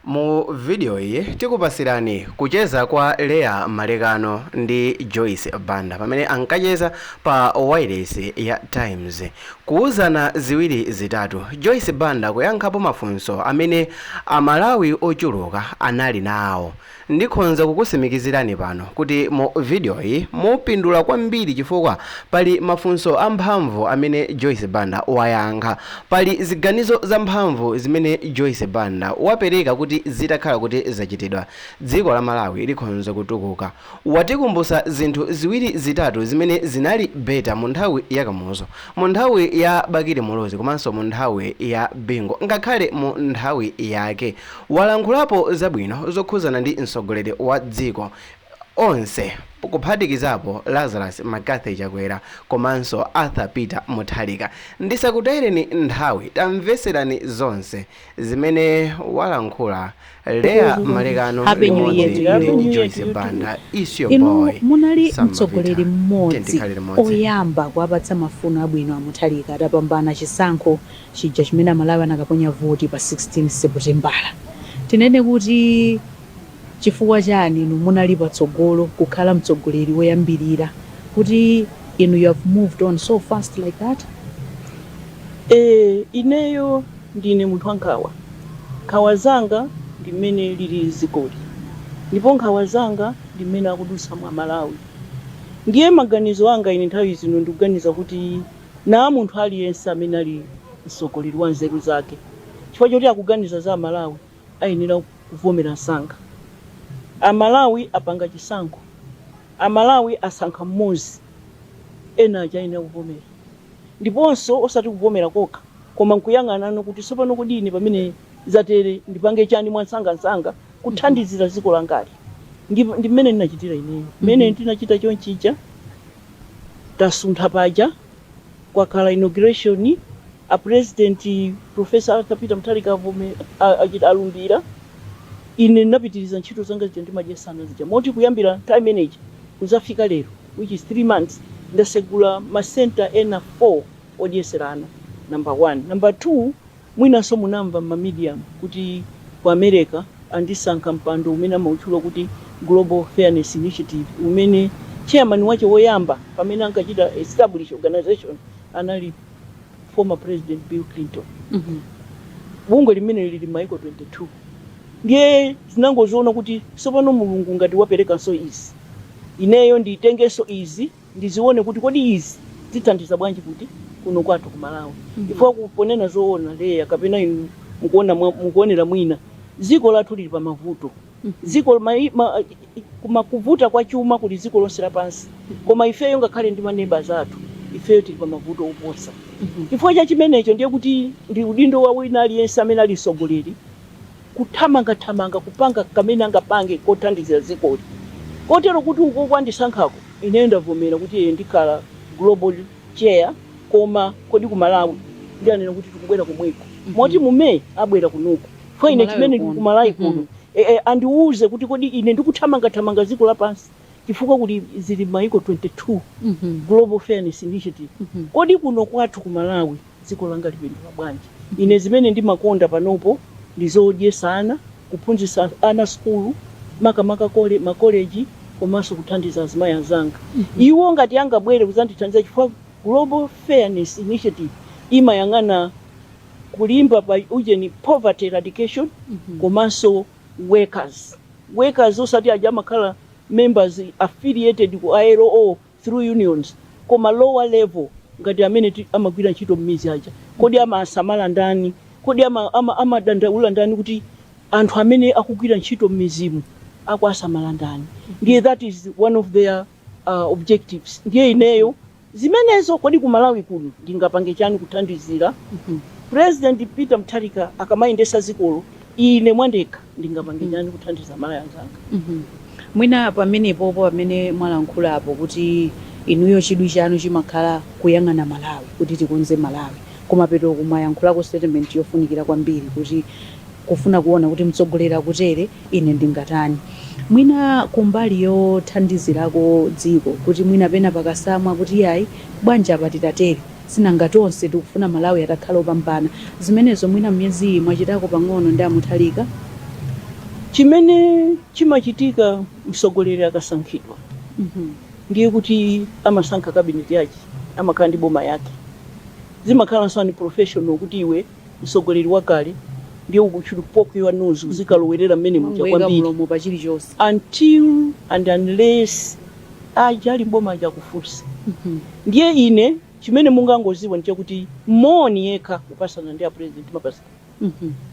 Mu video iyi tikupasirani kucheza kwa Leah Malekano ndi Joyce Banda pamene ankacheza pa wailesi ya Times. Kuuzana ziwiri zitatu, Joyce Banda kuyankhapo mafunso amene a Malawi ochuluka anali nawo. Ndikhonza kukusimikizirani pano kuti mu vidiyoyi mupindula kwambiri chifukwa pali mafunso amphamvu amene Joyce Banda wayankha. Pali ziganizo zamphamvu zimene Joyce Banda wapereka kuti zitakhala kuti zachitidwa, dziko la Malawi likhonza kutukuka. Watikumbusa zinthu ziwiri zitatu zimene zinali better munthawi ya Kamuzu, munthawi ya Bakili Muluzi komanso munthawi ya Bingu ngakhale munthawi yake. Walankhulapo zabwino zokhuzana ndi mtsogoleri wa dziko onse kuphatikizapo Lazarus McCarthy Chakwera komanso Arthur Peter Mutharika. Ndisakutayireni nthawi tamvetserani zonse zimene walankhula Leah Malekano ndi Joyce Banda. It's your boy. Inu munali mtsogoleri mmodzi oyamba kuwapatsa mafuno abwino a Mutharika atapambana chisankho chija chimene amalawi anakaponya voti pa 16 seputembala tinene kuti chifukwa chani inu munali patsogolo kukhala mtsogoleri woyambirira kuti inu you have moved on so fast like that Eh, ineyo ndine munthu wankhawa nkhawa zanga ndi mmene lilili dzikoli ndipo nkhawa zanga ndi mmene akudutsamo amalawi ndiye maganizo anga ine nthawi zino ndikuganiza kuti Naa munthu aliyense amene ali mtsogoleri wa nzeru zake chifukwa choti akuganiza za amalawi ayenera kuvomera msanga. Amalawi apanga chisankho, amalawi asankha mmozi ena aja ayenera kuvomera ndiponso osati kuvomera kokha koma nkuyang'ananso kuti tsopano kodi ine pamene zatere ndipange chani mwansangansanga kuthandizira dziko langali. Ndi mmene ndinachitira ineyo, mmene ndinachita chonchija. Tasuntha paja kwakhala inauguration a president Prof Arthur Peter Mutharika avomera achita alumbira ine ndinapitiliza ntchito zanga zija ndimadyetsa ana zija moti kuyambira nthawi imene ija kuzafika lero which is 3 months ndasegula ma center ena 4 odyesera ana number 1 number 2 Mwinanso munamva m'mamidiyamu kuti ku America andisankha mpando umene amautchula kuti Global Fairness Initiative, umene tcheyamani wache woyamba pamene ankachita establish organization anali former President Bill Clinton. Bungwe limeneli lili m'mayiko 22. Ndiye ndinangodziona kuti tsopano Mulungu ngati waperekanso izi, ineyo nditengenso izi. ndizione kuti kodi izi zithandiza bwanji kuti kuno kwathu ku Malawi fo kuponena zoona Lea kapena inu mukuonera mwina dziko lathu lili pa mavuto dziko ma, kuvuta kwa chuma kuli dziko lonse lapansi koma ifeyo ngakhale ndi maneba athu ifeyo tili pa mavuto oposa chifukwa cha chimenecho ndiye kuti ndi udindo wa wina aliyense amene ali mtsogoleri kuthamangathamanga kupanga kamene angapange kothandizira dzikoli kotero kuti ukoko andisankhako ine ndavomera kuti ee ndikhala global chair koma kodi ku Malawi ndiye anena kuti tikubwera komweko moti mu May abwera kunoko fo ine chimene ku Malawi kuno ee andiuze kuti kodi ine ndikuthamangathamanga dziko lapansi chifukwa kuti zili maiko 22 global fairness initiative kodi kuno kwathu ku Malawi dziko langa lipindula bwanji. Ine zimene ndimakonda panopo ndi zodyesa ana, kuphunzisa ana sukulu makamaka kole, ma college komanso kuthandiza azimayi azanga iwo ngati angabwere kuzandithandiza chifukwa Global Fairness Initiative imayang'ana kulimba pa ujeni, poverty eradication komanso workers, workers osati uja amakhala members affiliated ku ILO through unions koma lower level ngati amene amagwira ntchito m'midzi aja kodi amasamala ndani kodi amadandaula ndani kuti anthu amene akugwira ntchito m'midzimu akuwasamala ndani ndiye that is one of their objectives ndiye ineyo zimenezo kodi ku malawi kuno ndingapange chani kuthandizira president peter mutharika akamayendesa dzikolo ine mwandekha ndingapange Mm. chani kuthandiza amalawi anzanga Mhm. mwina pamenepopo pamene mwalankhulapo kuti inuyo chidwi chanu chimakhala kuyang'ana malawi kuti tikonze malawi koma petoku mwayankhulako statement yofunikira kwambiri kuti kufuna kuona kuti mtsogoleri akutere ine ndingatani mwina kumbali yothandizirako dziko kuti mwina pena pakatsamwa kuti yayi bwanji apa titatere sinanga tonse tikufuna malawi atakhala opambana zimenezo mwina myezi iyi mwachitako pang'ono ndi a Mutharika? Chimene chimachitika mtsogoleri akasankhidwa ndiye kuti amasankha cabinet yache amakhala ndi boma yake zimakhalanso unprofessional kuti iwe msogoleri wakale ndiye u should poke your nose uzikalowerera mmene muja kwambiri until and unless aja ali mboma aja akufuse ndiye ine chimene mungangoziwa ndi chakuti moni yekha kupasana ndi a president timapasana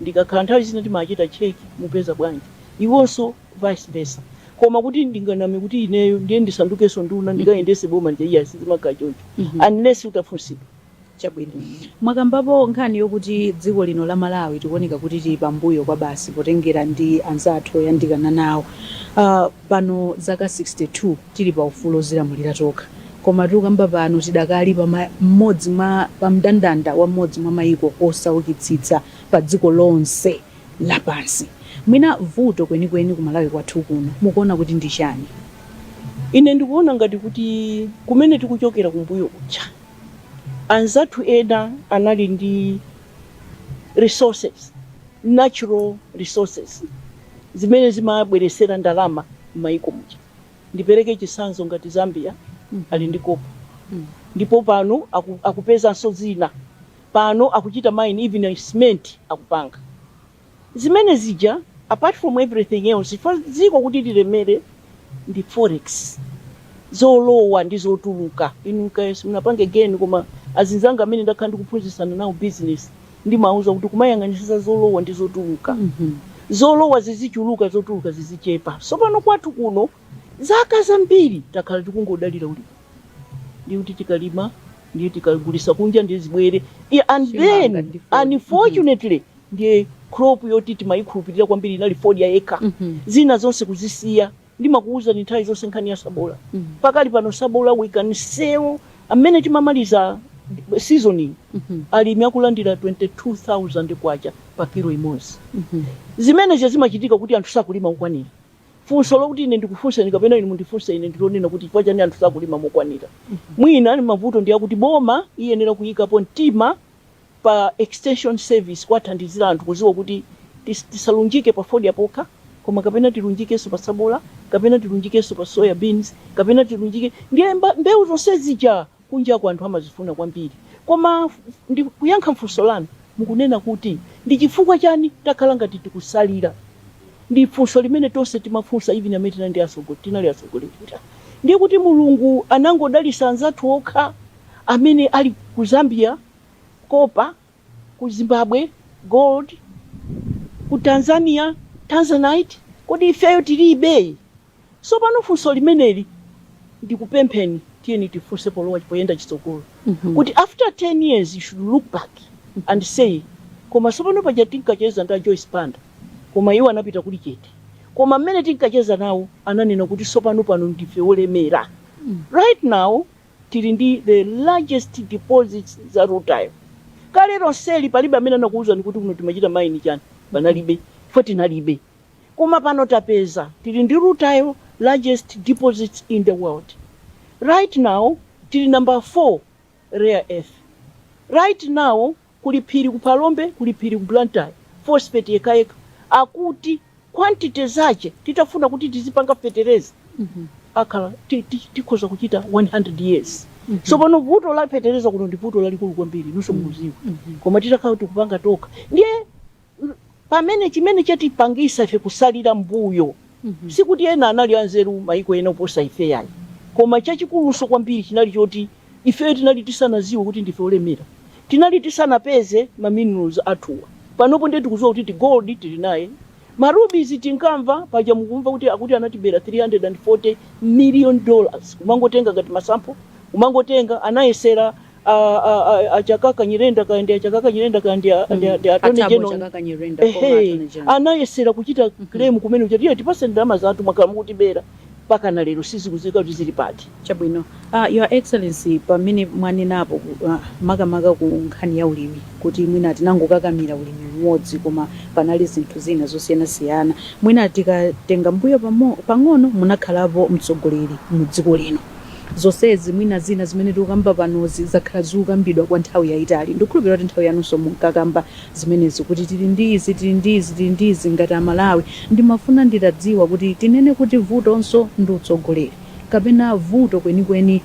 ndikakhala nthawi zina timachita cheki mukupeza bwanji iwonso vice versa koma kuti ndinganame kuti ineyo ndiye ndisandukenso nduna ndikayendese boma ndiye sizimakhala choncho unless utafunsidwa Chabwino. Mwakambapo nkhani yokuti dziko lino la Malawi tikuoneka kuti tili pambuyo kwabasi potengera ndi anzathu oyandikana nawo. Uh, pano zaka 62 tili pa ufulu ozilamulira tokha. Koma tikukamba pano tidakali pa ma- mmodzi mwa pa mndandanda wa mmodzi mwa maiko osaukitsitsa pa dziko lonse lapansi. Mwina vuto kwenikweni ku Malawi kwathu kuno mukuona kuti ndi chani? Ine ndikuona ngati kuti kumene tikuchokera kumbuyo kuja Anzathu ena anali ndi resources, natural resources, zimene zimabweresera ndalama m'mayiko muja. Ndipereke chisanzo ngati Zambia ali ndi copper ndipo pano akupezanso zina. Pano akuchita mine even cement akupanga. zimene zija apart from everything else chifukwa dziko kuti lilemere ndi forex zolowa ndi zotuluka inu kaya simunapange geni koma azinzanga amene ndakhala ndikuphunzitsana nawo business ndimawuza kuti kumayang'anitsitsa zolowa ndi zotuluka zolowa zizichuluka zotuluka zizichepa sopano kwathu kuno zaka zambiri takhala tikungodalira ulimi ndiye kuti tikalima ndiye tikagulisa kunja ndiye zibwere and then unfortunately ndiye crop yoti timayikhulupirira kwambiri inali fodya yekha mm -hmm. zina zonse kuzisiya ndimakuwuzani nthawi zonse nkhani ya sabola mm -hmm. pakali pano sabola we can sell mmene timamaliza season ino mm -hmm. alimi akulandira 22000 kwacha pa kilo imodzi mm -hmm. zimene zimachitika kuti anthu sakulima mokwanira funso lokuti ine ndikufunseni kapena inu mundifunse ine ndilonena kuti chifukwa chani anthu sakulima mokwanira mwina mavuto ndi akuti boma iyenera kuyikapo mtima pa extension service kuwathandizira anthu kuziwa kuti tis tisalunjike pa fodya pokha koma kapena tilunjikenso pa sabola kapena tilunjikenso pa soya beans kapena tilunjike ndiye mba mbeu zonse zija kunjaku anthu amazifuna kwambiri koma ndi kuyankha mfunso lanu mukunena kuti ndi chifukwa chani takhala ngati tikusalira ndi funso limene tonse timafunsa even amene tinali ndi atsogo- tinali atsogoleri ndiye kuti mulungu anangodalisa anzathu okha amene ali ku Zambia, Copper, ku Zimbabwe, Gold, ku Tanzania, Tanzanite, kodi ifeyo tilibe? Sopano funso limeneli ndikupempheni tiyeni tifunse polowa poyenda chitsogolo kuti after 10 years you should look back and say koma sopano paja tinkacheza ndi a Joyce Banda koma iwo anapita kuli chete koma mmene tinkacheza nawo ananena kuti sopano pano ndife olemera right now Tili ndi the largest deposits za rutile kale lonseli palibe amene anakuuzani kuti kuno timachita mine chani panalibe chifukwa tinalibe koma pano tapeza tili ndi rutile largest deposits in the world right now tili number 4 rare earth right now Kuli phiri ku Phalombe, kuli phiri ku Blantyre, phosphate yekhayekha akuti quantity zache titafuna kuti tizipanga fetereza akhala tikhoza kuchita 100 years. Tsopano vuto la fetereza kuno ndi vuto lalikulu kwambiri inunso mukudziwa. Koma titakhala tikupanga tokha ndiye Pamene, chimene chatipangitsa ife kusalira mmbuyo, si kuti ena anali anzeru, maiko ena oposa ife, iai, koma chachikulunso kwambiri chinali choti ifeyo tinali tisanadziwe kuti ndife olemera. Tinali tisanapeze ma minerals athuwa. Panopo ndiye tikudziwa kuti gold tili naye. Ma rubies tinkamva, paja mukumva kuti akuti anatibera 340 million dollars, kumangotenga ngati ma sample, kumangotenga, anayesera a chakaka nyirenda kaya ndi a chakaka nyirenda kaya ndi a Attorney General anayesera kuchita claim kumene kuti tipase ndalama zathu mwakhala mukutibera mpaka na lero sizikudziwika kuti zili pati chabwino uh, your excellency pamene mwanenapo uh, makamaka ku nkhani ya ulimi kuti mwina tinangokakamira ulimi umodzi koma panali zinthu zina zosiyanasiyana mwina tikatenga mbuyo pang'ono munakhalapo mtsogoleri mu dziko lino Zonsezi, mwina zina zimene tikukamba panozi zakhala zikukambidwa kwa nthawi yaitali. Ndikukhulupilira kuti nthawi yanunso munkakamba zimenezi kuti tili ndi izi, tili ndi izi, tili ndi izi ngati a Malawi. Ndimafuna nditadziwa kuti tinene kuti vutonso ndi utsogoleri kapena vuto kwenikweni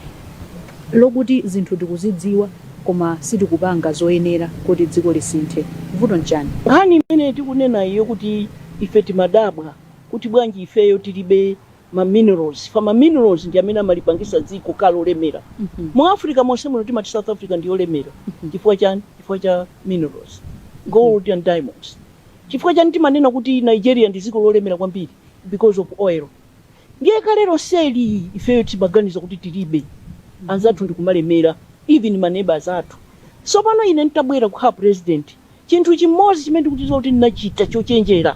lokuti zinthu tikuzidziwa koma sitikupanga zoyenera kuti dziko lisinthe? Vuto nchani? Nkhani imene tikunenayi yokuti ife timadabwa kuti bwanji ifeyo tilibe ma minerals fa ma minerals ndi amene amalipangisa dziko kukhala lolemera mu africa monse muno timati south africa ndi yolemera chifukwa chani chifukwa cha minerals gold and diamonds chifukwa chani timanena kuti nigeria ndi dziko lolemera kwambiri because of oil ndiye kale lonseli ifeyo timaganiza kuti tilibe anzathu ndikumalemera even ma neighbors athu sopano ine ntabwera kukhala president Chinthu chimodzi chimene ndikudziwa kuti ndinachita chochenjera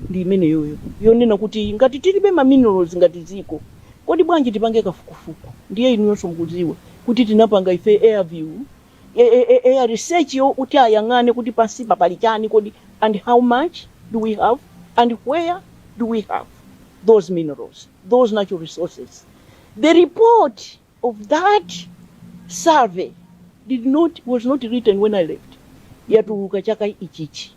ndi imeneyoyo, yonena kuti ngati tilibe ma minerals ngati dziko, kodi bwanji tipange kafukufuku? Ndiye inuyonso mukudziwa kuti tinapanga ife air research yoti ayang'ane kuti pansipa pali chani kodi and how much do we have and where do we have those minerals, those natural resources. The report. of that survey did not was not written when I left. Yatuluka chaka ichichi.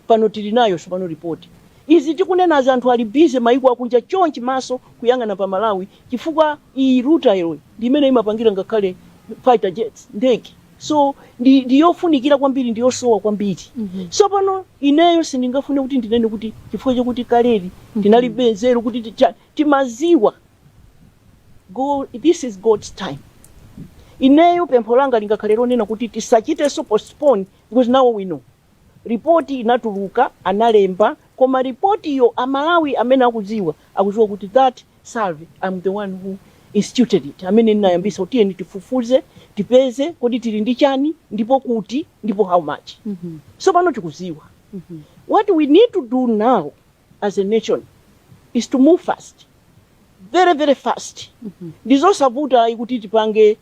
Pano tili nayo sopano report. Izi tikunena za anthu ali busy maiko akunja chonchi maso kuyang'ana pa Malawi chifukwa iyi rutile yo ndi imene imapangira ngakhale fighter jets ndege. So ndi ndiyofunikira kwambiri ndiyosowa kwambiri. Sopano ineyo sindingafune kuti ndinene kuti chifukwa chakuti kale ndinalibe nzeru kuti ticha- timaziwa Go this is God's time ineyo pempho langa lingakhale lonena kuti tisachitenso postpone because now we know report inatuluka analemba koma report iyo amalawi amene akudziwa akudziwa kuti that survey i'm the one who instituted it amene ndinayambisa kuti tiyeni tifufuze tipeze kodi tili ndi chani ndipo kuti ndipo how much so pano tikudziwa what we need to do now as a nation is to move fast very very fast ndizosavutayi kuti tipange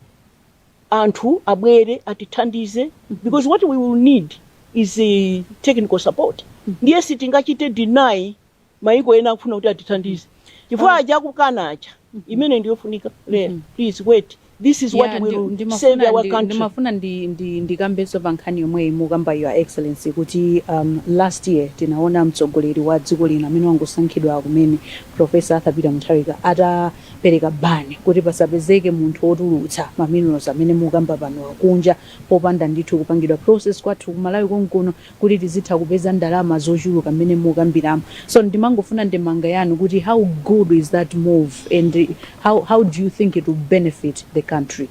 anthu abwere atithandize because what we will need is eh, technical support ndiye sitingachite deny maiko ena akufuna kuti atithandize chifukwa aja akukana aja imene ndiyofunika lero please wait This is what Ya, ndi- will ndimafuna save our ndi- country. ndimafuna ndi- ndi- ndikambenso pa nkhani yomweyi mukamba your excellency kuti um, last year tinaona mtsogoleri wa dziko lino amene wangosankhidwa kumene profesa arthur peter mutharika atapereka ban kuti pasapezeke munthu wotulutsa maminerals amene mukamba pano akunja popanda ndithu kupangidwa process kwathu kumalawi konkuno kuti tizitha kupeza ndalama zochuluka mmene mukambiramo so ndimangofuna ndemanga yanu kuti how good is that move and how, how do you think it will benefit the country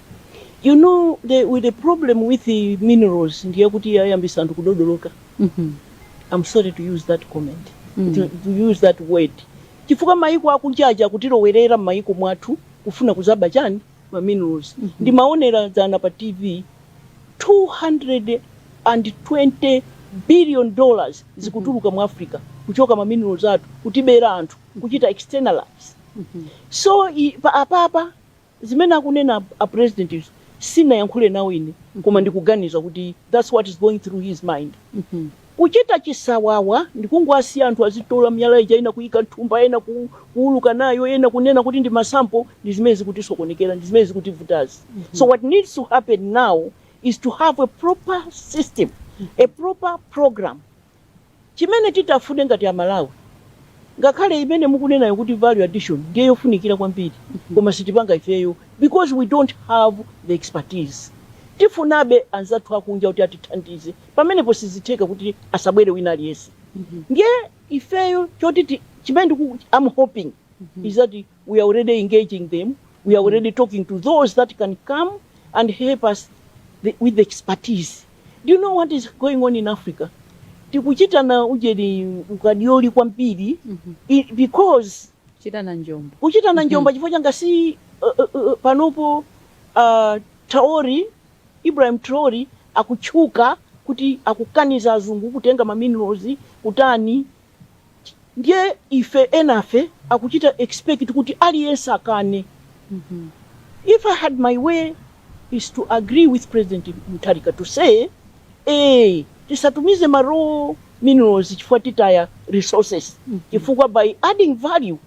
You know, the, with the problem with the minerals, ndiye kuti yayambisa anthu kudodoloka. Mhm. I'm sorry to use that comment, Mm. to, to use that word. Chifukwa maiko akunjaja kutilowerera m'maiko mwathu kufuna kuzaba chani ma minerals ndimaonera dzana pa tv 220 billion dollars zikutuluka mu africa kuchoka ma minerals athu kutibera anthu kuchita externalize so i- pa- apapa zimene akunena a president izo sinayankhule nawo ine koma ndikuganiza kuti that's what is going through his mind Kuchita chisawawa ndikungowasiya anthu azitola miyala ija ena kuyika mthumba ena kuwuluka nayo ena kunena kuti ndi ma sample ndi zimene zikutisokonekera ndi zimene zikutivutazi so what needs to happen now is to have a proper system a proper program chimene titafune ngati amalawi ngakhale imene mukunenayo kuti value addition ndiye yofunikira kwambiri koma sitipanga ifeyo because we don't have the expertise tifunabe anzathu akunja kuti atithandize pamenepo sizitheka kuti asabwere wina aliyense ndiye ifeyo choti ti- chimene ndiku I'm hoping is that we are already engaging them we are already talking to those that can come and help us the, with the expertise do you know what is going on in africa tikuchitana ujeni ukadaulo kwambiri i- because chitana njombo kuchitana njomba chifukwa changa si uh, uh, uh, panopo uh, Traore Ibrahim Traore akutchuka kuti akukaniza azungu kutenga ma minerals kutani ndiye ife enafe akuchita expect kuti aliyense akane if I had my way is to agree with President Mutharika to say eeh tisatumize ma raw minerals chifukwa titaya resources chifukwa by adding value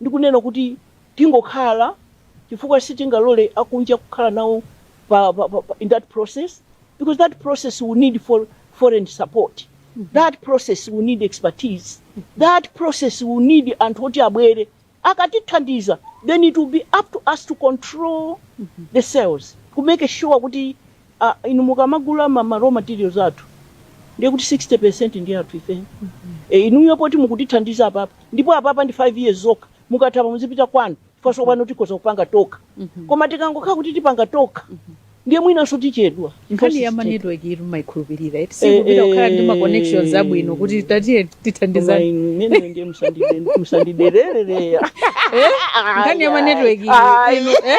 ndi kunena kuti tingokhala chifukwa sitingalole akunja kukhala nawo pa, pa, pa, pa, in that process because that process will need for foreign support that process will need expertise that process will need anthu oti abwere akatithandiza then it will be up to us to control the sales to make sure kuti a inu mukamagula ma, ma raw materials athu ndiye kuti 60% ndiye athu ife e, inuyo poti mukutithandiza apapa ndipo apapa ndi 5 years zokha mukatha apa muzipita kwanu bwa tsopano tikhoza kupanga tokha koma tikangokhala kuti tipanga tokha ndiye mwinanso tichedwa nkhani ya ma Because- network iri mumayikhulupirira eti Eh, sikupita kukhala ndi ma eh. connections abwino kuti tatiye Koma tithandizane inu ine ndiye musandide- musandiderere nkhani ya ma network iri Ayi. inu, eh?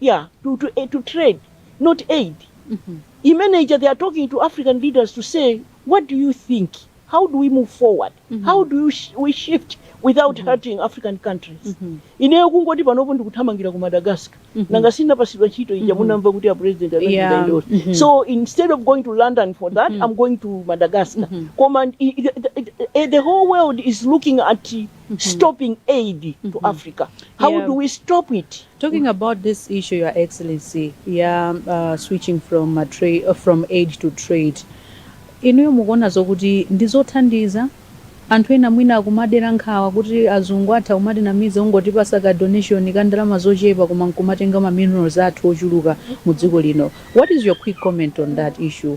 yeah to, to, eh, to trade not aid imene ija they are talking to african leaders to say what do you think how do we move forward how do you sh we shift without hurting african countries ineyo kungoti panopo ndikuthamangira ku madagascar nanga sinapasidwa ntchito ija munamva kuti a president anachita Yeah. idoso. Mhm. so instead of going to london for that i'm going to madagascar koma i- i- the, the, the whole world is looking at mm -hmm. stopping aid mm -hmm. to mm-hmm. Africa. How yeah. do we stop it? Talking about this issue, Your Excellency, yeah, uh, switching from a trade uh, from aid to trade. Inuyo mukuona zokuti ndizothandiza anthu ena mwina akumadera nkhawa kuti azungu atha kumatinamiza n'kungotipatsa ka donation ka ndalama zochepa koma nkumatenga ma minerals athu ochuluka mu dziko lino what is your quick comment on that issue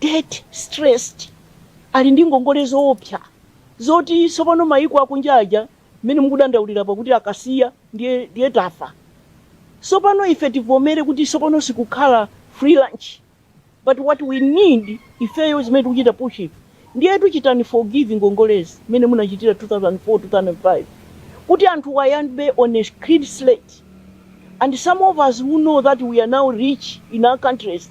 debt stressed, ali ndi ngongole zoopsa zoti tsopano mayiko akunja aja mmene mukudandaulira apa kuti akasiya ndiye ndiye tafa. Tsopano ife tivomere kuti tsopano sikukhala free lunch but what we need ifeyo zimene tikuchita push ife ndiye kuti chitani forgive ngongolezi mmene munachitira 2004 2005 kuti anthu ayambe on a clean slate and some of us who know that we are now rich in our countries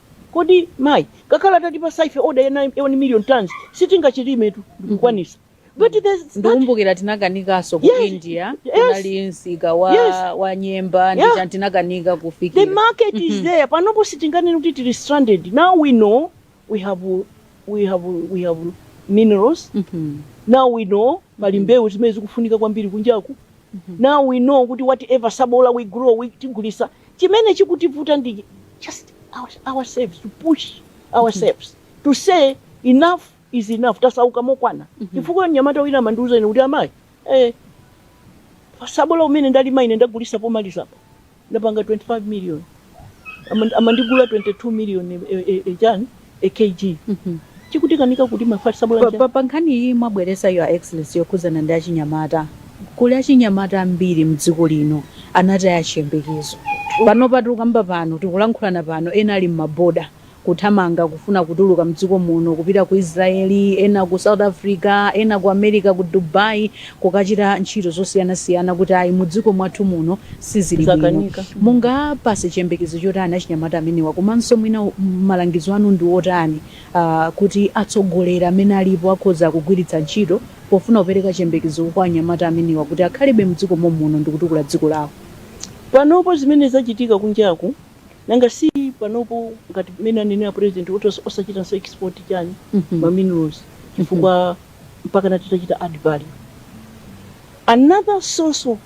Kodi mayi ngakhale atatipasa ife order ya 1 million tonnes sitingachilimiketu ndikukwanisa but there's that ndikumbukira tinakanikaso ku Yes, india yes. kunali msika wa, Yes. wa nyemba Yeah. ndiye tinakanika kufikira the market is there panopo sitinganene kuti tili stranded now we know we have we have we have minerals Mhm. now we know pali mbewu zimene zikufunika kwambiri kunjaku now we know kuti whatever sabola we grow we tigulisa chimene chikutivuta ndi just our- ourselves to push ourselves to say enough is enough tasauka mokwana chifukwa mnyamata wina amandiuza ine kuti amayi eh, pa sabola umene ndalima ine ndagulisa pomalizapa ndapanga 25 million Ama- amandigula 22 million eh, eh, eh, chani a kg chikutikanika kuti mafalisa bwanji? Pa nkhani iyi mwabweresa your excellency yokhuzana ndi achinyamata kuli achinyamata ambiri mdziko lino anataya chiyembekezo panopa tikukamba pano tikulankhulana pano ena ali mma border kuthamanga kufuna kutuluka mdziko muno kupita ku Israel ena ku south Africa ena ku America ku Dubai kukachita ntchito zosiyanasiyana kuti ayi mudziko mwathu muno sizili bwino. Mungawapase chiyembekezo chotani achinyamata amenewa komanso mwina malangizo anu ndi otani kuti atsogoleri amene alipo akhoza kugwiritsa ntchito pofuna kupereka chiyembekezo kwa anyamata amenewa kuti akhalebe mdziko mommuno ndikutukula dziko lawo? Panopo zimene zachitika kunjaku nanga si panopo ngati mmene anenera president kuti osachitanso export chani ma minerals chifukwa. mpakana titachita add value. Another source of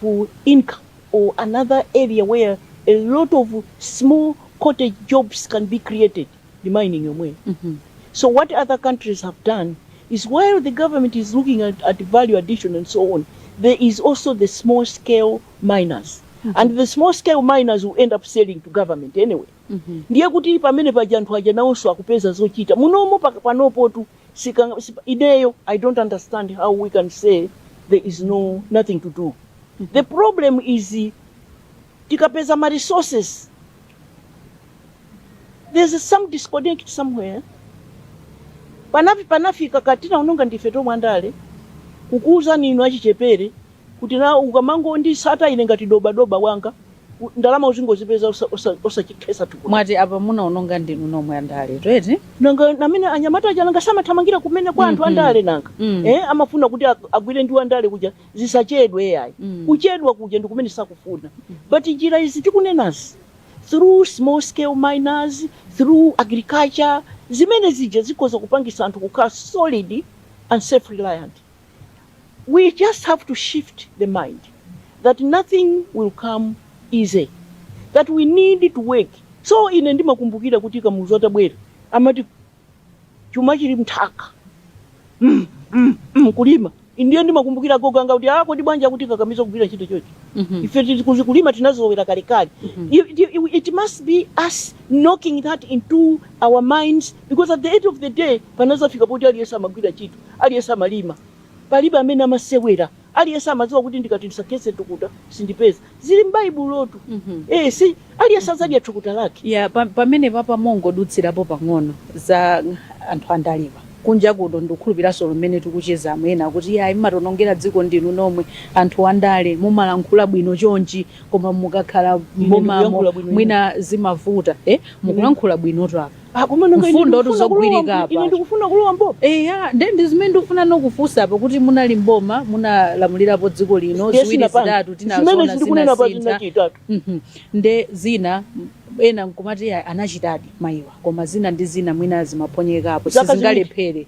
income or another area where a lot of small cottage jobs can be created ndi mining yomweyo. Mm -hmm. So what other countries have done is while the government is looking at, at value addition and so on, there is also the small scale miners. Mm -hmm. And the small scale miners will end up selling to government anyway. Mm -hmm. Ndiye kuti pamene paja anthu aja nawonso akupeza zochita munomo panopotu sikanga sipa- ineyo i don't understand how we can say there is no nothing to do the problem is uh, tikapeza ma resources there's some disconnect somewhere panafi- panafika ka tinaononga ndife tomwe andale kukuwuzani inu achichepere kuti na ukamangondisata ine ngati dobadoba wanga U- ndalama uzingozipeza osa- osa- osachikhetsa thukuta mwati apa munaononga ndinu nomwe andaletu eti nanga namene anyamata aja nanga si amathamangira kumene kwa anthu Mhm. andale nanga Mm. eh, amafuna kuti ag- agwire ndi andale kuja zisachedwe yayi Mm. kuchedwa kuja ndi kumene sakufuna but njira izi tikunenazi through small scale miners through agriculture zimene zija zikhoza kupangisa anthu kukhala solid and self reliant we just have to shift the mind that nothing will come easy that we need to work so ine ndimakumbukira kuti kamuzu atabwera amati chuma chili mthaka mm, mm, mm, kulima ndiye ndimakumbukira agogo anga kuti a kodi bwanji akutikakamiza kugwira ntchito chocho Mhm. ife tili kuzi- kulima tinazolowera kalekale it, it, it must be us knocking that into our minds because at the end of the day Panazafika poti aliyense amagwira ntchito, aliyense amalima. Palibe amene amasewera. Aliyense amadziwa kuti ndikati ndisakhetse thukuta, sindipeza. Zili m'Baibulotu. Eh, si aliyense adzadya thukuta lake. Ya, pa- pamenepapa mongodutsirapo pang'ono za anthu andalewa kunja kuno ndikukhulupiraso mmene tikuchezamo ena akuti yayi mmationongera dziko ndinu nomwe anthu andale mumalankhula bwino chonchi koma mukakhala mbomamo ndikuyankhula bwino mwina zimavuta eh mukulankhula bwinotu apa Ah, koma nanga ine Mfundo ndikufuna tu zogwirika kulowa mbo- apa. ine ndikufuna kulowa boma eya nde ndi zimene ndikufuna nokufunsapo kuti munali mboma munalamulirapo dziko lino Ndiye ziwiri sinapanga. zitatu zimene tinazona sindikunena pa zina zinasintha chitatu Mhm. nde zina m- ena nkumati "Ayi, anachitadi mayiwa koma zina ndi zina mwina zimaphonyekapo Zaka ziwiri. sizingalephere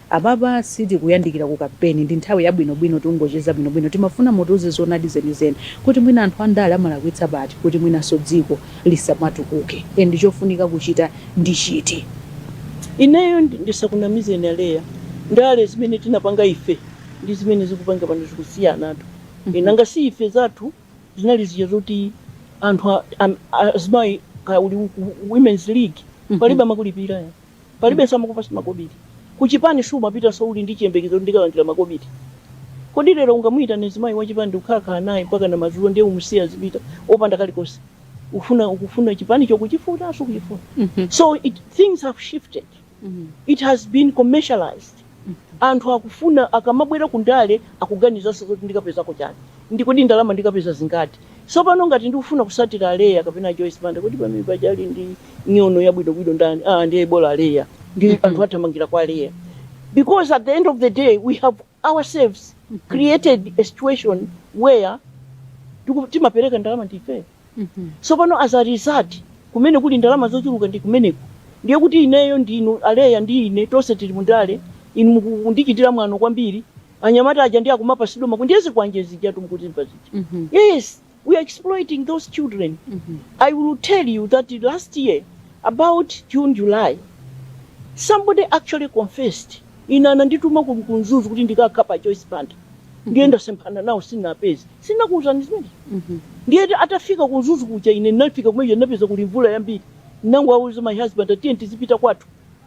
Apapa sitikuyandikira ku kampeni, ndi nthawi yabwinobwino tikungocheza bwinobwino. Timafuna mutiuze zoonadi zenizeni kuti mwina anthu andale amalakwitsa pati kuti mwinanso dziko lisamatukuke and chofunika kuchita ndi chiti. Ineyo ndisakunamizeni a Leah, ndale zimene tinapanga ife ndi zimene zikupangika pano zikusiyanatu. E, nanga si ife zathu zinali zija zoti anthu a, a, a, azimayi kaya uli ku Women's League palibe amakulipira. palibenso amakupasa makobiri kuchipani sumapitanso uli ndi chiyembekezo kuti ndikalandira makobiri kodi lero ungamuyitane mzimayi wachipani ndikukhalakhala naye mpaka na madzulo ndiye umusiye azipita opanda kalikonse ukufuna ukufuna chipanicho ukuchifuna sukuchifuna so it, things have shifted it has been commercialized Anthu akufuna akamabwera ku ndale akuganizanso zoti ndikapezako chani ndi kodi ndalama ndikapeza zingati. Sopano ngati ndikufuna kusatira a Leah kapena a Joyce Banda kodi pamene paja ali ndi nyono yabwino bwino ndani aa ndiye bola Leah ndi anthu athamangira kwa Leah because at the end of the day we have ourselves created a situation where tiku- timapereka ndalama ndife Sopano, as a result, kumene kuli ndalama zochuluka ndi kumeneko, ndiye kuti ineyo ndi inu, a Leah ndi ine, tonse tili mu ndale, inu mukundichitira mwano kwambiri, anyamata aja ndiye akumapatsidwa ma. ndiye zikwanje zijatu mukuzimva zija. Yes, we are exploiting those children. I will tell you that last year about June, July, somebody actually confessed. Ine anandituma ku ku Mzuzu kuti ndikakhape Joyce Banda. Ndiye ndinasemphana nawo sinapeze. Sinakuuzani zimene? Ndiye ati- atafika ku Mzuzu kuja ine ndinafika kumene ndinapeza kuli mvula yambiri. Ndinangowauza my husband ati tiyeni tizipita kwathu.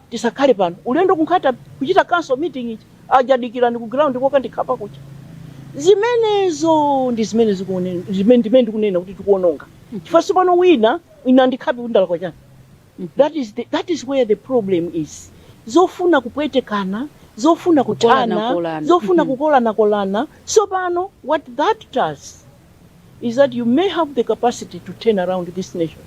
Tisakhale pano. Ulendo ku Nkhata kuchita council meeting ija. Aja adikira ku ground kokandikhapa kuja. Zimenezo ndi zimene zikuone zimene ndi zimene ndikunena kuti tikuononga. Chifukwa sopano wina wina andikhape kuti ndalakwa chani. that is the, that is where the problem is zofuna kupwetekana zofuna kuthana Kukolanakolana. zofuna Mhm. kukolanakolana sopano what that does is that you may have the capacity to turn around this nation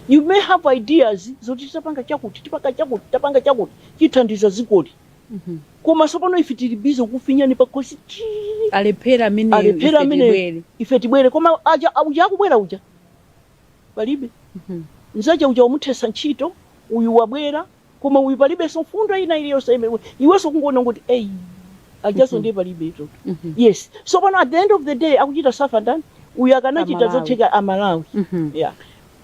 you may have ideas zoti tipanga chakuti tipanga chakuti tapanga chakuti chithandiza dzikoli Mhm. koma sopano ife tili bize kufinyana pakhosi chii alephera amene alephera ife amene tibwere. ife tibwere koma aja uja akubwera uja palibe mzake uja wamuthesa ntchito uyu wabwera koma uyu palibenso mfundo ina iliyonse imene iwenso kungoona kuti eyi ajaso ndiye palibetu yes so pano at the end of the day akuchita safa ndani uyu akanachita zotheka amalawi yeah.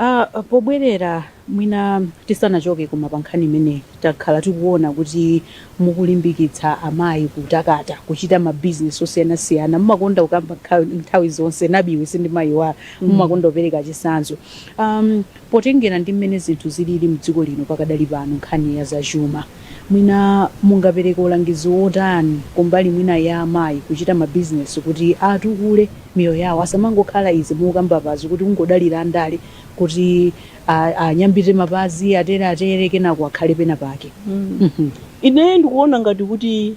Ah, pobwerera mwina tisanachoke koma pa nkhani imeneyi takhala tikuona kuti Mukulimbikitsa amayi kutakata, kuchita ma business osiyanasiyana, mumakonda kukamba nthawi zonse, Nabi iwe sindimayiwala, mumakonda kupereka chisanzo. Amm potengera ndi mmene zinthu zilili mdziko lino pakadali pano nkhani ya za chuma, mwina mungapereke ulangizi wotani kumbali mwina ya amayi kuchita ma business kuti atukule miyoyo yawo, asamangokhala izi mukukamba apazi kuti kungodalira andale kuti. anyambite mapazi atere atere kenako akhale pena pake Mhm. ine ndikuona ngati kuti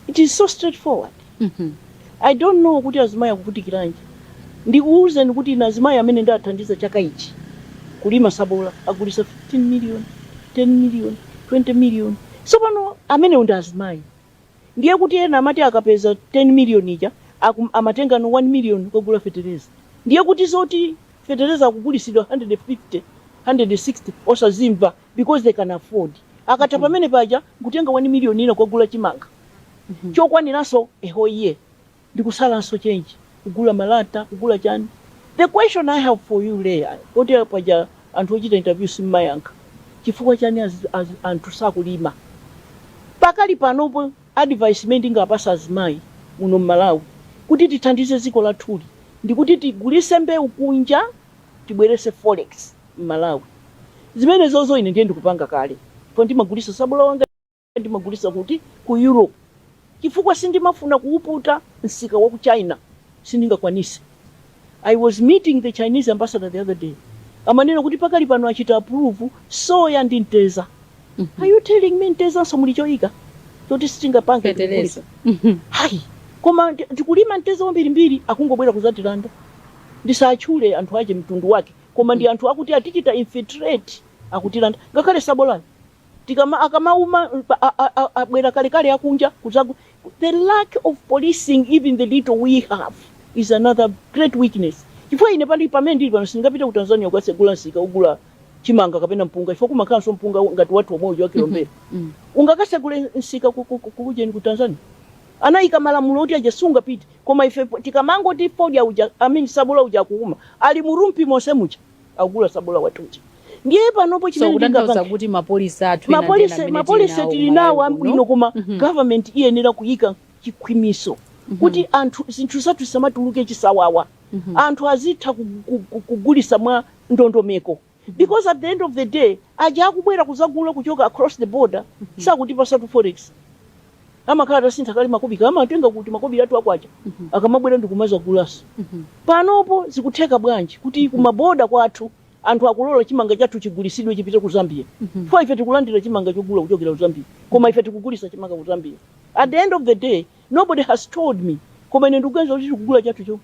it is so straightforward Mhm. i don't know kuti azimayi akuvutikiranji ndikuwuzeni kuti ine azimayi amene ndathandiza chaka ichi kulima sabola agulisa 15 million 10 million 20 million so pano amenewo ndi azimayi Ndiye kuti ena amati akapeza 10 million ija akum, amatengano 1 million kukagula fetereza. Ndiye kuti zoti fetereza akugulisidwa 150, 160 osazimva because they can afford. Akatha pamenepaja nkutenga 1 million ina kukagula chimanga chokwaniranso a whole year. ndikusalanso change kugula malata kugula chani the question i have for you lea poti paja anthu ochita interview simmayankha chifukwa chani az, az, anthu sakulima pakali panopo advice imene ndingapasa azimayi muno mmalawi kuti tithandize dziko lathuli ndikuti tigulise mbewu kunja tibwerese forex mmalawi zimenezozo ine ndiye ndikupanga kale po ndimagulisa sabola wanga Ndimagulitsa kuti? Ku Europe. Chifukwa sindimafuna kuwuputa msika wa ku China. Sindingakwanise. I was meeting the Chinese ambassador the other day. Amanena kuti pakali pano achita approve soya ndi mteza. Are you telling me mtezanso muli choika choti sitingapange ndi Feteleza. kugulitsa? Hayi. Koma ndi- tikulima mteza wambirimbiri akungobwera kuzatilanda. Ndisatchule anthu ake mtundu wake. Koma ndi anthu akuti atichita infiltrate akutilanda. Ngakhale sabolayo. tikama akamauma abwera kalekale akunja kuzagu the lack of policing even the little we have is another great weakness chifukwa ine pali pamene ndili pano sindingapite ku tanzania kukasegula msika kugula chimanga kapena mpunga chifukwa kumakhalanso mpunga ngati wathu omwe uja wa kilombero Mm. ungakasegule msika ku- ku- ku- kujeni ku tanzania anayika malamulo oti aja sungapite koma ife po- tikamangoti fodya uja I mean sabola uja akuuma ali mu Rumphi monse muja agula sabola wathu uja ndiye panopo chimene ndingapange so kuti ma policy athu ma policy ma policy tili nawo ambwino koma mm -hmm. government iyenera kuyika chikhwimiso mm -hmm. kuti anthu zinthu zathu zisamatuluke chisawawa mm -hmm. anthu azitha kugulisa mwa ndondomeko mm -hmm. because at the end of the day aja akubwera kuzagula kuchoka across the border mm -hmm. sakutipasatu forex amakhala atasintha kale makobiri amatenga timakobiri tathu akwacha akamabwera ndikumazagulaso panopo zikutheka bwanji kuti kumaboda kwathu anthu akulola chimanga chathu chigulisidwe chipite ku zambia chifukwa ife tikulandira chimanga chogula kuchokera ku zambia koma ife tikugulisa chimanga ku zambia at the end of the day nobody has told me koma ine ndikuganiza kuti tikugula chathu chomwe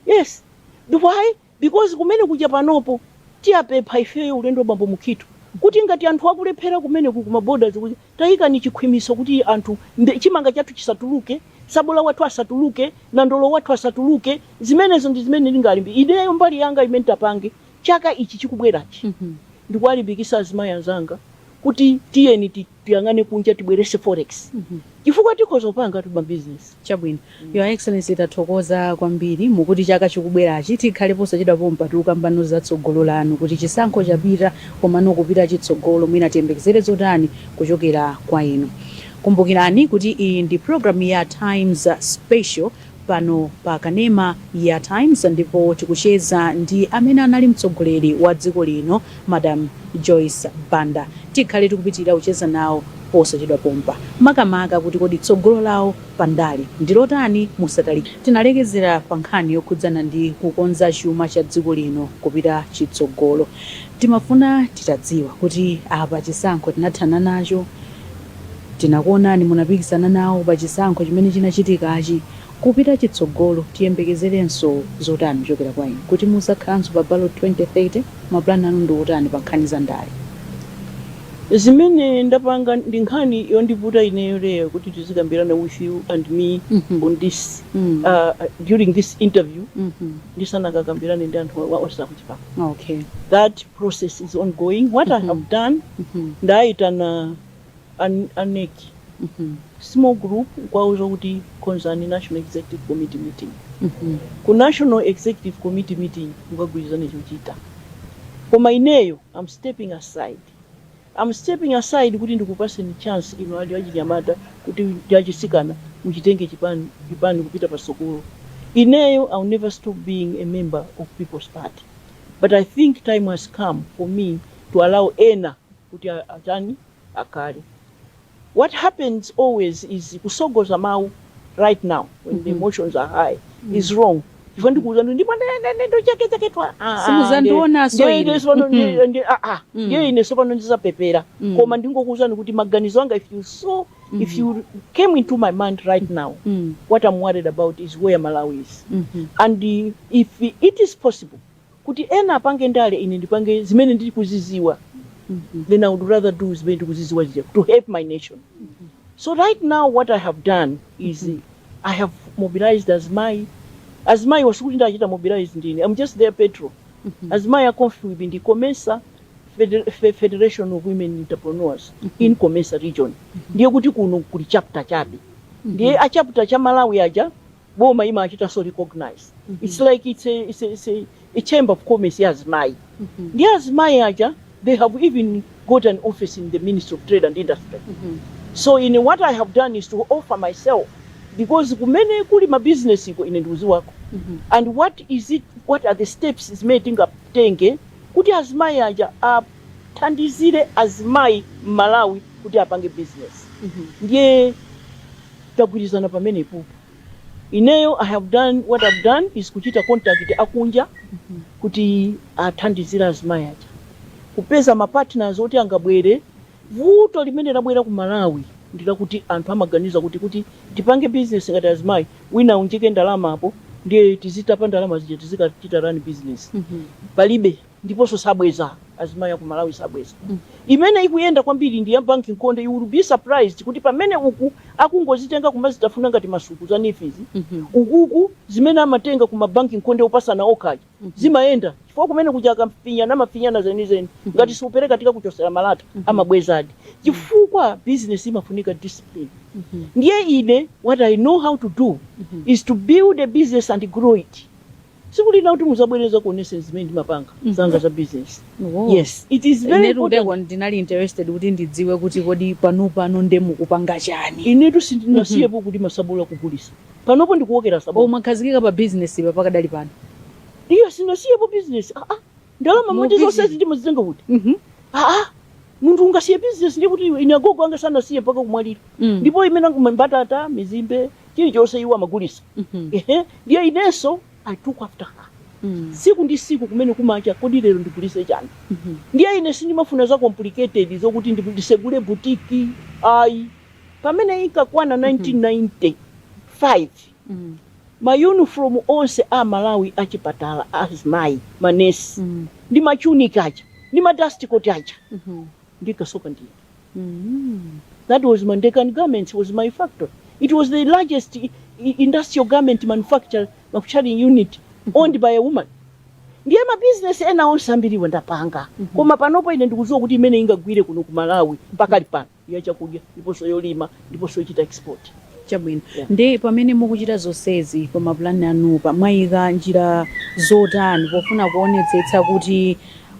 yes why Because kumene kuja panopo tiwapempha ifeyo ulendo wa bambo Mukhitho kuti ngati anthu akulephera kumeneko kuma borders kuja taikani chikhwimitso kuti anthu chimanga chathu chisatuluke, tsabola wathu asatuluke, nandolo wathu asatuluke, zimenezo ndi zimene ndingalimbi, ineyo mbali yanga imene ntapange chaka ichi chikubwerachi ndikuwalimbikisa azimayi anzanga kuti tiyeni ti. tiyang'ane kunja tibwerese forex chifukwa tikhoza kupanga timabusiness. Chabwino. Your Excellency tathokoza kwambiri. Mukuti chaka chikubwerachi tikhale posachedwa pompa tikukambano za tsogolo lanu kuti chisankho chapita komano kupita chitsogolo mwina tiyembekezere zotani kuchokera kwa inu. Kumbukirani kuti iyi ndi program ya Times Special. pano pa kanema ya Times ndipo tikucheza ndi amene anali mtsogoleri wa dziko lino Madam Joyce Banda. Tikhale tikupitilira kucheza nawo posachedwa pompa makamaka kuti kodi tsogolo lawo pa ndale ndi lotani? Musatalikire. Tinalekezera pa nkhani yokhudzana ndi kukonza chuma cha dziko lino kupita chitsogolo. Timafuna titadziwa kuti apa chisankho tinathana nacho, Tinakuonani munapikisana nawo pa chisankho chimene chinachitikachi. Kupita chitsogolo tiyembekezerenso zotani kuchokera kwa inu? Kuti muzakhalanso pa ballot 2030? Ma plan anu ndi otani pa nkhani za ndale? Zimene ndapanga ndi nkhani yondivuta ineyo Leah kuti tizikambirana with you and me on this during this interview ndisanakakambirane ndi anthu onse a ku chipani that. process is ongoing what i have done ndaitana a NEC small group nkwauza kuti konzani national executive committee meeting ku national executive committee meeting mukagwirizane chochita koma ineyo I'm stepping aside I'm stepping aside kuti ndikupaseni chance inu achinyamata kuti ndi achisikana muchitenge chipani kupita patsogolo. Ineyo I'll never stop being a member of People's Party but I think time has come for me to allow ena kuti atani akhale. what happens always is kutsogoza mau right now when the mm -hmm. emotions are high mm. is wrong chifukwa ndikuuza ndi ndipo ndakhachaketwa simuzandionanso ine sopano ndiye ine sopano ndizapepesa koma ndingokuuzani kuti maganizo anga if you saw Mm -hmm. If you came into my mind right now, mm -hmm. what I'm worried about is where Malawi is. Mm -hmm. And uh, if it is possible, Kuti ena apange ndale ine ndipange zimene ndikuziziwa then i would rather do zimene ndikuziziwa zija to help my nation. So right now what i have done is i have mobilized azimayi, azimayiwa sikuti ndachita mobilize ndine I'm just their patron, azimayi a COMFWB ndi COMESA fede federation of women entrepreneurs in COMESA region ndiye kuti kuno kuli chapter chabe ndiye a chapter cha Malawi aja boma imachitanso recognize it's like it's a, it's a, it's a, a chamber of commerce ya azimayi ndiye azimayi aja they have even got an office in the ministry of trade and industry so ine what i have done is to offer myself because kumene kuli mabizinesiko ine ndikuziwako and what is it what are the steps zimene tingatenge kuti azimayi aja athandizire azimayi m'malawi kuti apange business ndiye tagwirizana pamenepo ineyo i have done what i've done is kuchita contact akunja kuti athandizire azimayi aja kupeza ma partners oti angabwere vuto limene labwera ku malawi ndilakuti anthu amaganiza kuti kuti tipange business ngati azimayi wina aunjike ndalama apo ndiye tizitapa ndalama zija tizikachita run business palibe ndiponso sabweza azimayi aku malawi sabweza mm. imene ikuyenda kwambiri ndi ya banki nkonde you will be surprised kuti pamene uku akungozitenga kumazitafuna ngati masuku za NEEF izi mm -hmm. ukuku zimene amatenga ku mabanki nkonde opasana okhaokha aja mm -hmm. zimayenda chifukwa kumene kuja akafinyana amafinyana zenizeni mm -hmm. ngati siupereka tikakuchosera malata mm -hmm. amabwezadi chifukwa business imafunika discipline mm -hmm. ndiye ine what i know how to do mm -hmm. is to build a business and grow it tsiku lina kuti muzabwere nzakuoneseni zimene ndimapanga zanga za business Oh. yes it is very Inetu important kuteko ndinali interested kuti ndidziwe kuti kodi pano pano nde mukupanga chani inetu sindinasiyepo kuti ma Sabola kugulisa panopo ndikuwokera sabola mwakhazikika pa business pa pakadali pano ineyo sinasiyepo business ah, ah. ndalama moti Mubisi. zonsezi ndimazitenga kuti Mhm. aa munthu ungasiye bizinesi ndiye kuti ine agogo anga sanasiye mpaka kumwalira Mm. ndipo imene angule mbatata mizimbe chilichonse iwo amagulisa Mhm. ehe ndiye inenso i took after her Mm. siku ndi siku kumene kumacha kodi lero ndigulise chani Mhm. ndiye ine sindimafuna za complicated zokuti ndi- ndisegule butiki ayi pamene imakwana 1995 ma uniform onse a Malawi a chipatala a azimayi ma nurse ndi ma tunic aja ndi ma dust coat aja ndinkasoka ndine. That was Ndekani Garments was my factory it was the largest i- i- industrial garment manufacture manufacturing unit owned by a woman ndiye ma business ena onse ambiriwa ndapanga koma panopo ine ndikudziwa kuti imene ingagwire kuno ku Malawi pakali pano ya chakudya ndiponso yolima ndiponso yochita export. Chabwino. Yeah. Ndi pamene mukuchita zonsezi pa mapulani anupa mwayika njira zotani pofuna kuonetsetsa kuti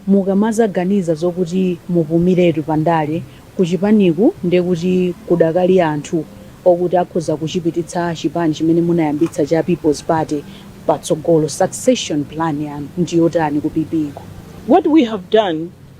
mukamazaganiza zokuti mupumiretu pa ndale kuchipaniku ndi kuti kudakali anthu okuti akhoza kuchipititsa chipani chimene munayambitsa cha People's Party patsogolo succession plan yanu ndi yotani ku PP ku? What we have done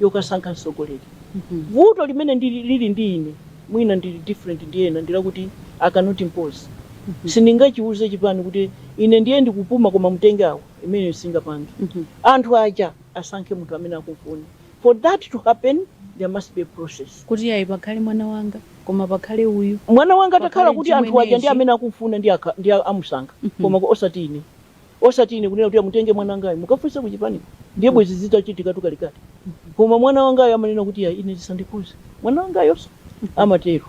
yokasankha mtsogoleri. Vuto limene lili ndi ine mwina ndili different ndi ena ndilakuti I cannot impose. Sindingachiuze chipani kuti ine ndiye ndikupuma koma mutenge awo, imeneyo singapange. Anthu aja asankhe munthu amene akumfuna. For that to happen there must be a process. Kuti ayi pakhale mwana wanga koma pakhale uyu. Mwana wanga atakhala kuti anthu aja ndi amene akumfuna ndiye amusankha koma osati ine. Osati ine kunena kuti amutenge mwana wangayo mukafunse kuchipaniko ndiye mm. bwezi zitachitikatu kalekale koma mwana wangayo amanena kuti ya ine zisandikhuze mwana wangayonso mm-hmm. amatero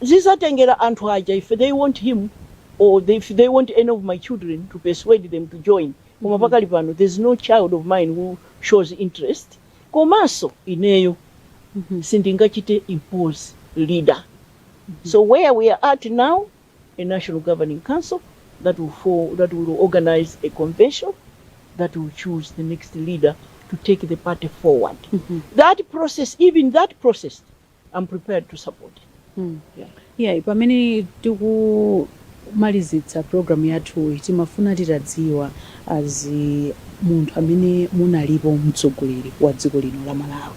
zizatengera anthu aja if they want him or they, if they want any of my children to persuade them to join koma mm-hmm. pakali pano there's no child of mine who shows interest komanso ineyo mm-hmm. sindingachite impose leader so where we are at now a National Governing Council that will for, that will organize a convention that will choose the next leader to take the party forward. Mm -hmm. That process, even that process, I'm prepared to support. Mm. Yeah. Yeah, pamene tikumalizitsa program yathu timafuna titadziwa as munthu amene munalipo mtsogoleri wa dziko lino la Malawi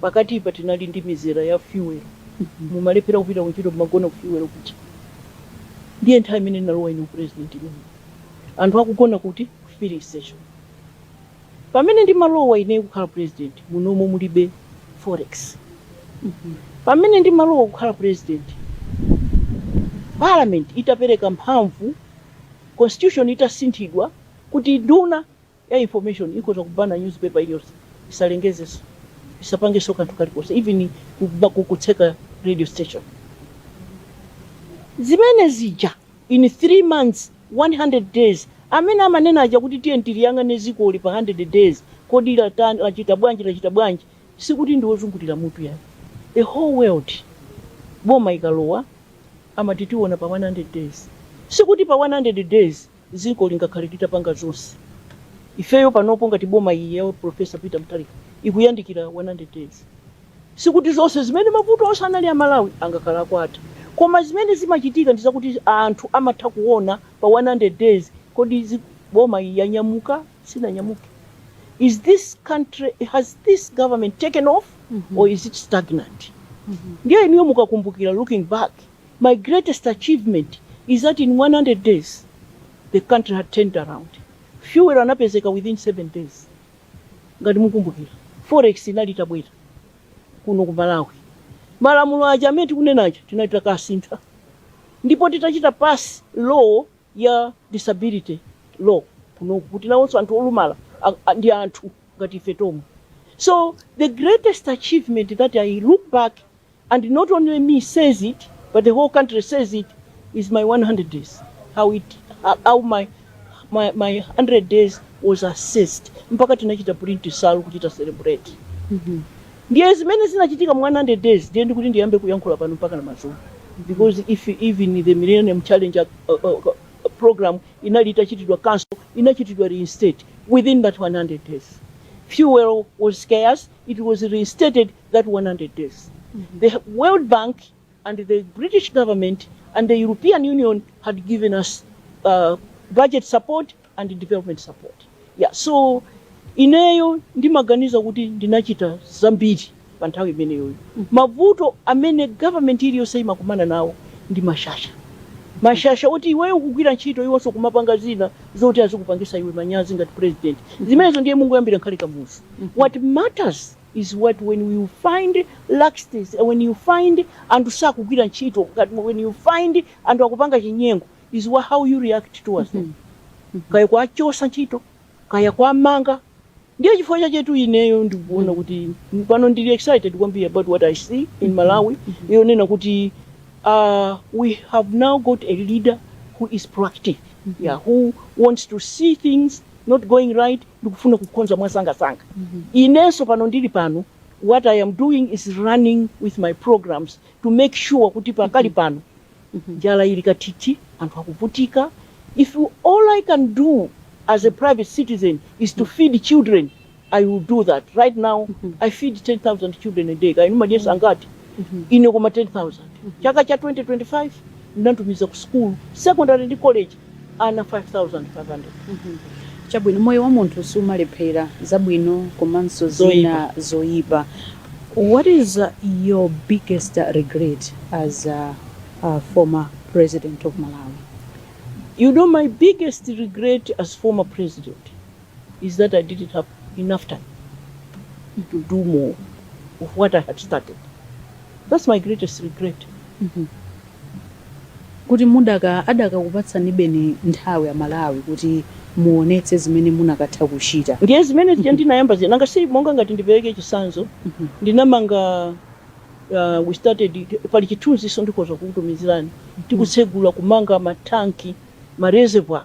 Pakatipa tinali ndi mizera ya fuel, mumalephera kupita kuntchito mmagona ku fuel kuja. Ndiye nthawi imene nalowa ine upresident imeneyo. Anthu akugona kuti? Ku filling station. Pamene ndimalowa ineyo kukhala president, munomo mulibe forex. Pamene ndimalowa kukhala president, parliament itapereka mphamvu, constitution itasinthidwa kuti nduna, ya information ikhoza kuchita ban a newspaper iliyonse isalengezenso isapangenso kanthu kalikonse even kuba- ku- kutseka radio station zimene zija in 3 months 100 days amene amanena aja kuti tiye tiliyang'ane zikoli pa 100 days kodi latani lachita bwanji lachita bwanji sikuti ndi wozungulira mutu ayi the whole world boma ikalowa amati tiona pa 100 days sikuti pa 100 days Dziko lingakhale litapanga zonse. Ifeyo panopo ngati boma iyi ya Prof Peter Mutharika ikuyandikira 100 days. Sikuti zonse zimene mavuto onse anali a Malawi angakhale atatha. Koma zimene zimachitika ndi zakuti anthu amatha kuona pa 100 days kodi boma iyi yanyamuka, sinanyamuke? Is this country, has this government taken off or is it stagnant? Ndiye inuyo mukakumbukira looking back. My greatest achievement is that in 100 days the country had turned around. Fuel anapezeka within 7 days. Ngati mukumbukira, forex inali itabwera kuno ku Malawi. Malamulo aja amene tikunena aja tinali takasintha. Ndipo titachita pass law ya disability law kuno kuti nawonso anthu olumala a- a- ndi anthu ngati ife tomwe. So the greatest achievement that I look back And not only me says it but the whole country says it is my 100 days how it how my my, my 100 days was assessed mpaka tinachita print nsalu kuchita celebrate ndiye zimene zinachitika mu 100 days ndiye ndikuti ndiyambe kuyankhula pano mpaka na madzulo because if even the millennium challenge uh, uh, uh, program inali itachitidwa cancel inachitidwa reinstate within that 100 days fuel was scarce it was reinstated that 100 days. The World Bank and the British government and the European Union had given us uh, budget support and development support. Yeah, so ineyo ndimaganiza kuti ndinachita zambiri pa nthawi imeneyoyo. Mavuto amene government iliyonse imakumana nawo ndi mashasha. mashasha oti iweyo kugwira ntchito iwonso kumapanga zina zoti azikupangisa iwe manyazi ngati president zimenezo ndiye mungoyambira kale kwa kamuzu what matters is what when you find laxities and when you find anthu sakugwira ntchito when you find anthu akupanga chinyengo is wha- how you react towards them kaya kuwachosa ntchito kaya kuwamanga ndiye chifukwa chachetu ineyo ndikuona kuti pano ndili excited kwambiri about what i see in malawi yonena kuti uh, we have now got a leader who is proactive yeah, who wants to see things not going right ndikufuna kukonza mwasangasanga inenso pano ndili pano what i am doing is running with my programs to make sure kuti pakali pano njala ili kathithi anthu akuvutika if all i can do as a private citizen is to feed children i will do that right now i feed 10000 children a day kaya inu mumadyesa angati ine koma 10000 chaka cha 2025 ndinatumiza ku school secondary ndi college ana 5500 chabwino moyo wa munthu sumalephera zabwino komanso zina zoyipa what is uh, your biggest uh, regret as a, a former president of malawi you know my biggest regret as former president is that I didn't have enough time to do more of what I had started. That's my greatest regret. kuti muda adakakupatsanibeni nthawi amalawi kuti muonetse zimene munakatha kuchita ndiye zimene zija ndinayamba zina nanga si monga ngati ndipereke chisanzo ndinamanga uh, we started pali chithunziso ndikhoza kukutumizirani tikutsegula kumanga mathanki ma reservoir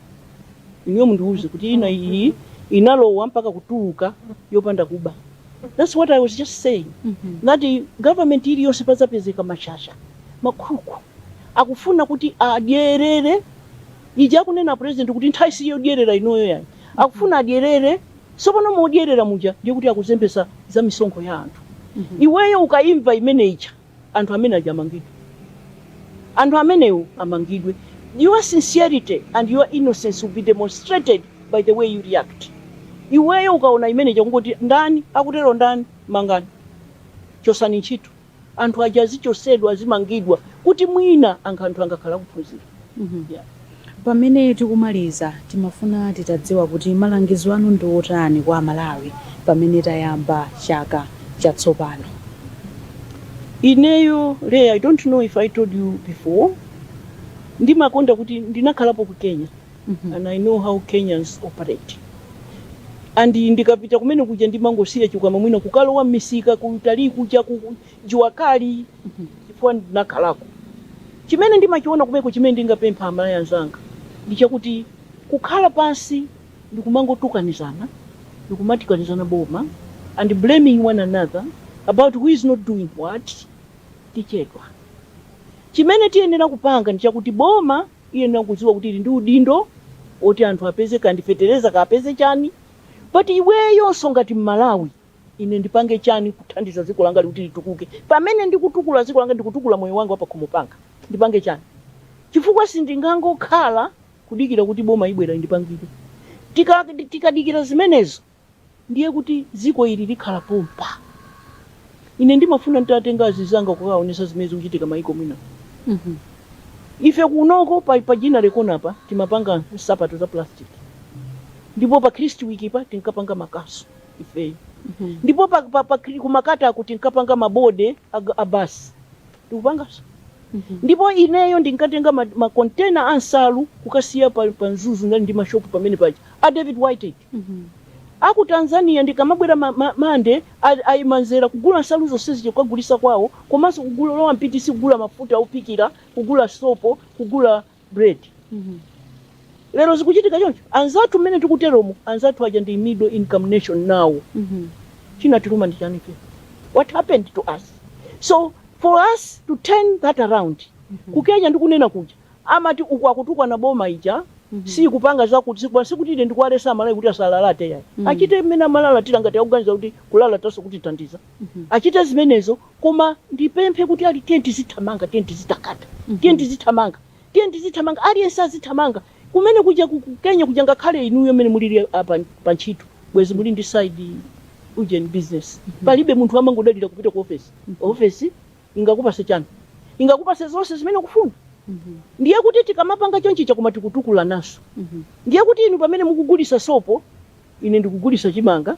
inuyo mundiuze kuti ina iyi inalowa mpaka kutuluka yopanda kuba that's what i was just saying that government iliyonse pazapezeka mashasha makhuku akufuna kuti adyerere ija akunena a president kuti nthawi siyodyerera inoyo yani akufuna adyerere sopano modyerera muja ndiye kuti akuzembesa za misonkho ya anthu iweyo ukayimva imene ija anthu amene aja amangidwe. Anthu amenewo amangidwe. Your sincerity and your innocence will be demonstrated by the way you react. Iweyo ukaona imene ija kungoti ndani akutero ndani mangani chosani ntchito anthu aja azichosedwa azimangidwa kuti mwina ankha anthu angakhala akuphunzira. Pamene tikumaliza, timafuna titadziwa kuti malangizo anu ndi otani kwa aMalawi pamene tayamba chaka chatsopano? Ineyo Leah, I don't know if I told you before, ndimakonda kuti ndinakhalapo ku Kenya and I know how Kenyans operate and ndikapita kumene kuja ndimangosiya chikwama mwina kukalowa m'misika kutali kuja ku Jua Kali chifukwa ndinakhalako. Chimene ndimachiona kumeko chimene ndingapemphe aMalawi anzanga ndi chakuti kukhala pansi ndikumangotukanizana ndikumatukanizana boma and blaming one another about who is not doing what tichedwa. Chimene tiyenera kupanga ndi chakuti boma iyenera kudziwa kuti ili ndi udindo oti anthu apeze kaya ndi fetereza kaya apeze chani but iweyonso ngati mmalawi. Ine ndipange chani kuthandiza dziko langali kuti litukuke pamene ndikutukula dziko langa ndikutukula moyo wanga wapakhomo panga ndipange chani chifukwa sindingangokhala kudikira kuti boma ibwera indipangire tika tikadikira zimenezo ndiye kuti dziko ili likhala pompa ine ndimafuna nditatenga azizanga kukaonesa zimene zikuchitika m'maiko mwina ife kunoko pa, pa Ginnery Corner pa timapanga nsapato za plastic ndipo pa Kristwick pa tinkapanga makasu ife ndipo pa, pa, pa, kumaketi ko tinkapanga mabodi ag- a basi tikupanganso ndipo ineyo ndinkatenga ma- makontena a nsalu kukasiya pa, pa mzuzu ndinali ndi mashopu pamene paja a david white aku tanzania ndikamabwera ma- ma- mande a- amayi amadzera kugula nsalu zonse zija kukagulisa kwawo komanso kulowa mu pitisi kugula mafuta ophikira kugula sopo kugula bread lero zikuchitika choncho anzathu mmene tikuteromo anzathu aja ndi middle income nation nawo chinatiluma nchani chino what happened to us so for us to turn that around kukenya ndikunena kuja amati uku akutukwana boma ija sikupanga zakuti sikupa- sikuti ine ndikuwalesa amalawi kuti asalalate yayi achite mmene amalalatira ngati akuganiza kuti kulalatanso kutithandiza achite zimenezo Koma ndipemphe kuti ali, tiyeni tizithamanga, tiyeni tizitakata, tiyeni tizithamanga, tiyeni tizithamanga, aliyense azithamanga. Kumene kuja ku ku Kenya kuja ngakhale inuyo mmene mulili apa pa ntchito bwezi muli ndi side ujeni business. Palibe munthu amangodalira kupita ku ofesi. Ofesi ingakupase chani? Ingakupase zonse zimene ukufuna. Ndiye kuti tikamapanga chonchija chuma tikutukulananso. Ndiye kuti inu pamene mukugulisa sopo, ine ndikugulisa chimanga.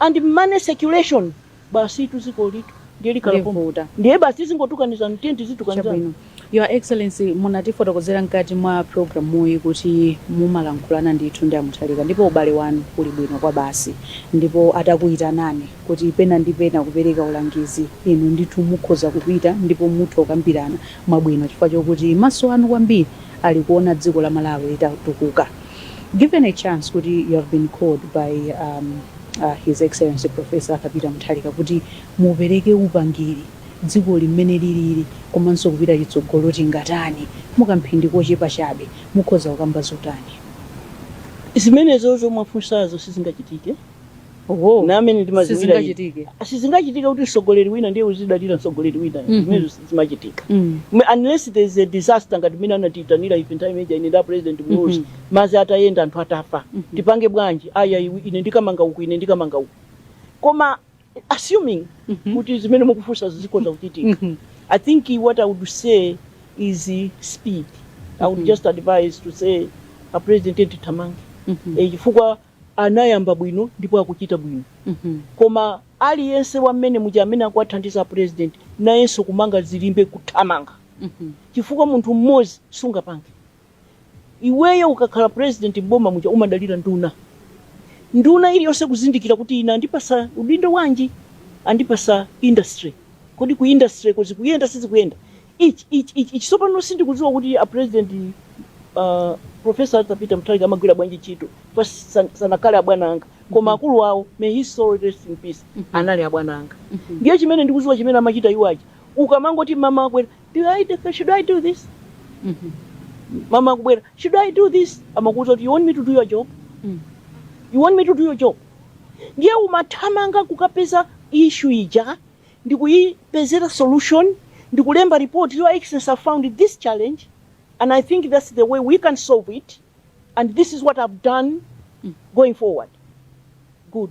and money circulation basitu dzikolitu ndiye likhala pompo Ndivuta. ndiye basi tizingotukanizana tiyeni tizitukanizana Chabwino. Your Excellency munatifotokozera mkati mwa programuyi kuti mumalankhulana ndithu ndi a Mutharika ndipo ubale wanu uli bwino kwabasi ndipo atakuyitanani kuti pena ndi pena kupereka ulangizi inu ndithu mukhoza kupita ndipo mutha kukambirana mwabwino chifukwa chokuti maso anu kwambiri ali kuona dziko la Malawi litatukuka Given a chance kuti you have been called by um, uh, His Excellency Professor Arthur Peter Mutharika kuti mupereke upangiri dzikoli mmene lilili komanso kupita chitsogolo tingatani mukamphindi kochepa chabe mukhoza kukamba zotani? Zimenezo zomwe mwafunsazo sizingachitike Oho. Ndi mmene ndimaziwira izi. Sizingachitike. sizingachitike kuti mtsogoleri wina ndiye uzidalira mtsogoleri wina Mhm. zimenezo sizimachitika Mm. M- unless there is a disaster ngati mene anatiitanira ife nthawi ija ine nda pulezidenti muluzi Mhm. mazi atayenda anthu atafa Mhm. tipange bwanji aya iwe- ine ndikamanga uku ine ndikamanga uku koma assuming Mhm. kuti zimene mukufunsazi zikhoza kuchitika Mhm. i think what i would say is uh, speed i would Mhm. just advise to say a president tithamange Mhm. Eh, chifukwa anayamba bwino ndipo akuchita bwino mm -hmm. koma aliyense wa mmenemuja amene akuwathandiza president nayenso kumanga zilimbe kuthamanga mm -hmm. chifukwa munthu mmodzi sungapange iweyo ukakhala president mboma muja umadalira nduna nduna iliyonse kuzindikira kuti ine andipasa udindo wanji andipasa industry kodi ku industry ko zikuyenda sizikuyenda Ich ich ich ich sopano sindikudziwa kuti a president uh, professor Arthur Peter Mutharika amagwira bwanji ntchito pa san- sanakale abwana anga koma akulu awo may his soul rest in peace anali abwana anga ndiye chimene ndikudziwa chimene amachita iwo aja ukamangoti bwana akwera do I do, should I do this bwana akubwera should I do this amakuuza kuti you want me to do your job you want me to do your job ndiye umathamanga kukapeza issue ija ndikuyipezera solution ndikulemba report your excellency I have found this challenge and i think that's the way we can solve it and this is what i've done going forward good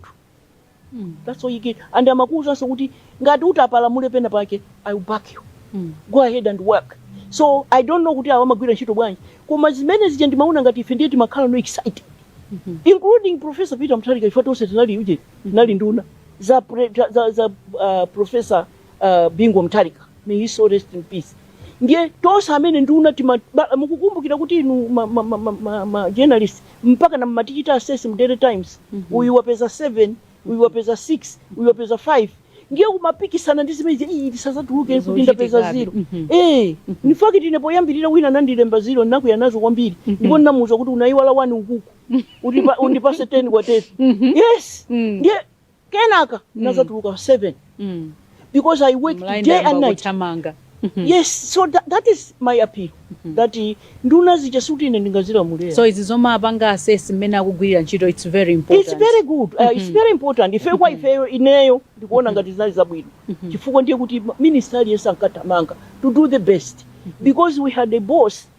that's all you get and amakuwuzanso kuti ngati utapalamule pena pake i will back you go ahead and work so i don't know kuti awa amagwira ntchito bwanji koma zimene zija ndimaona ngati ife ndiye timakhala no excited including professor peter mutharika chifukwa tonse tinali uje tinali nduna za, pre, za, za, za uh, professor uh, bingu mutharika may his soul rest in peace ndiye tonse amene nduna tima- ba- mukukumbukira kuti inu ma, ma, ma, ma, ma, ma journalist mpaka mumatichita assess mu daily times uyu wapeza 7 uyu wapeza 6 uyu wapeza 5 ndiye kumapikisana ndi zimene zija, "Ii, tisazatuluke kuti ndapeza ziro Mhm. Eh, in fact ine poyambirira wina anandilemba ziro ndinakwiya nazo kwambiri ndipo ndinamuuza kuti unayiwala wani ukuku Utipa- undipase 10 kwa 10 yes Mhm. ndiye kenaka ndinazatuluka 7 mm. because i work day and night kuthamanga Mm-hmm. yes so that, that is my appeal mm -hmm. that uh, nduna zija sikuti ine ndingazilamulire so izi zomawapanga assess mmene akugwirira ntchito it's very important it's very good uh, mm -hmm. it's mm-hmm. very important ife kwa mm-hmm. ifeyo ineyo ndikuona ngati zinali zabwino mm -hmm. chifukwa ndiye kuti minister aliyense ankathamanga to do the best mm -hmm. because we had a boss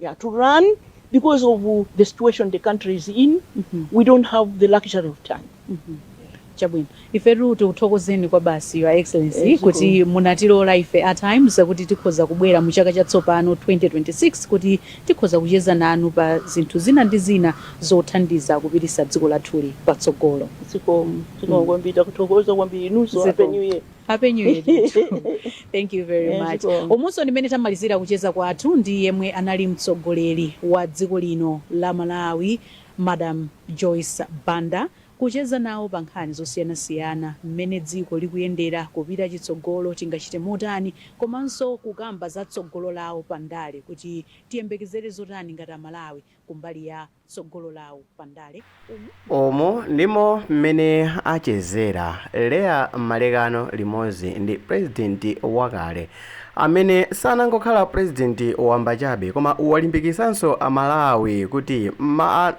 yeah to run because of the situation the country is in mm -hmm. we don't have the luxury of time mm -hmm. chabwino ifetu tikuthokozeni kwabasi your excellency eh, kuti munatilola ife at times kuti tikhoza kubwera mu chaka chatsopano 2026 kuti tikhoza kucheza nanu pa zinthu zina ndi zina zothandiza kupititsa dziko lathuli patsogolo zikomo zikomo mm. kwambiri takuthokoza kwambiri inuso happy new year happy new year ndithu. thank you very Eh, much zikomo. umunso ndi mmene tamalizira kucheza kwathu ndi yemwe anali mtsogoleri wa dziko lino la malawi madam joyce banda kucheza nawo pa nkhani zosiyanasiyana mmene dziko likuyendera kupita chitsogolo tingachite motani komanso kukamba za tsogolo lawo pa ndale kuti tiyembekezere zotani ngati amalawi kumbali ya tsogolo lawo pa ndale. Umu ndi. Umu ndimo m'mene achezera Leah Malekano limodzi ndi Pulezidenti wakale, amene sanangokhala Pulezidenti wamba chabe koma walimbikitsanso Amalawi kuti ma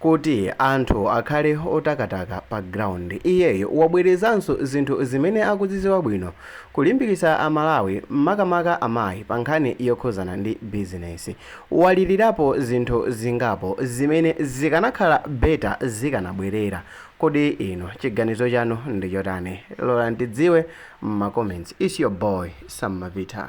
kuti anthu akhale otakataka pa ground. Iyeyo wabwerezanso zinthu zimene akudziziwa bwino, kulimbikitsa Amalawi makamaka amayi pa nkhani yokhuzana ndi bizinesi. Walirirapo zinthu zingapo zimene zikanakhala better zikanabwerera. Kodi inu chiganizo chanu ndi chotani? Lola ndidziwe m'ma comments. It's your boy Sam Mapita.